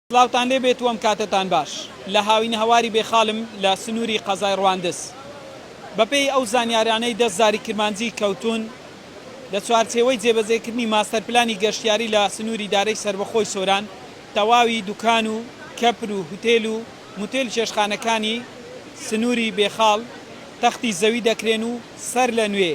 سڵاوتان لێ بێت و ئەم کاتەتان باش. لە هاوینهواری بێخالم لە سنووری قەزای ڕواندز. بەپێی ئەو زانیاریانەی دەست زاری کرمانجی کەوتوون، لە چوارچێوەی جێبەجێکردنی ماستەر پلانی گەشتیاری لە سنووری دارەی سەربەخۆی سۆران، تەواوی دوکان و کەپر و هوتێل و موتێل و چێشتخانەکانی سنووری بێخاڵ تەختی زەوی دەکرێن و سەرلەنوێ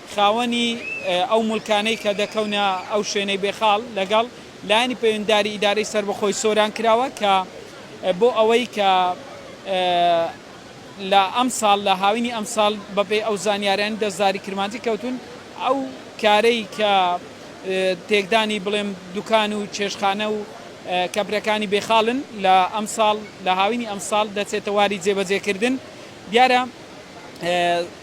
خاوەنی ئەو موڵکانەی کە دەکەونە ئەو شوێنەی بێ خاڵ لەگەڵ لایەنی پەیوەندیداری ئیدارەی سەربەخۆی سۆران کراوە کە بۆ ئەوەی کە لە ئەمساڵ لە هاوینی ئەمساڵ بە پێی ئەو زانیارانەی دەستداری کرمانجی کەوتوون ئەو کارەی کە تێکدانی بڵێم دوکان و چێشتخانە و کەپرەکانی بێ خاڵن لە ئەمساڵ لە هاوینی ئەمساڵ دەچێتە واری جێبەجێ کردن دیارە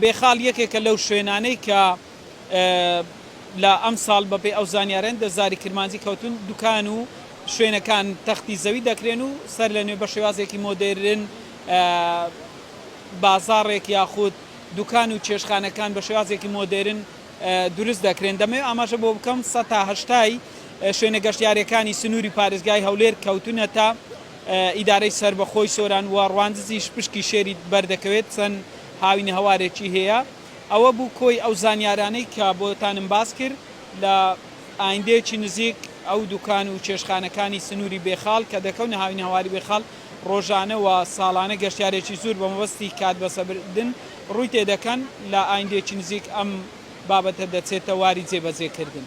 بێخاڵ یەکێکە لەو شوێنانەی کە لە ئەمساڵ بەپێی ئەو زانیارەن دە زاری کرمانجی کەوتون دوکان و شوێنەکان تەختی زەوی دەکرێن و سەر لەنوێ بە شێوازێکی مۆدێرن بازاڕێک یاخود دوکان و چێشتخانەکان بە شێوازێکی مۆدێرن دروست دەکرێن دەمەوێت ئاماژە بۆ بکەم سەتا هەشتای شوێنە گەشتیارەکانی سنووری پارێزگای هەولێر کەوتونەتە ئیدارەی سەربەخۆی سۆران و ڕواندزیش پشکی شێری بەردەکەوێت چەند هاوینەهەوارێکی هەیە. ئەوە بوو کۆی ئەو زانیارانەی کە بۆتانم باس کرد لە ئایندەیەکی نزیک ئەو دوکان و چێشخانەکانی سنوری بێخاڵ کە دەکەونە هاوینەهەواری بێخاڵ ڕۆژانە و ساڵانە گەشتیارێکی زور بە مەبەستی کات بەسەربردن ڕوی تێدەکەن لە ئایندەیەکی نزیک ئەم بابەتە دەچێتە واری جێبەجێکردن.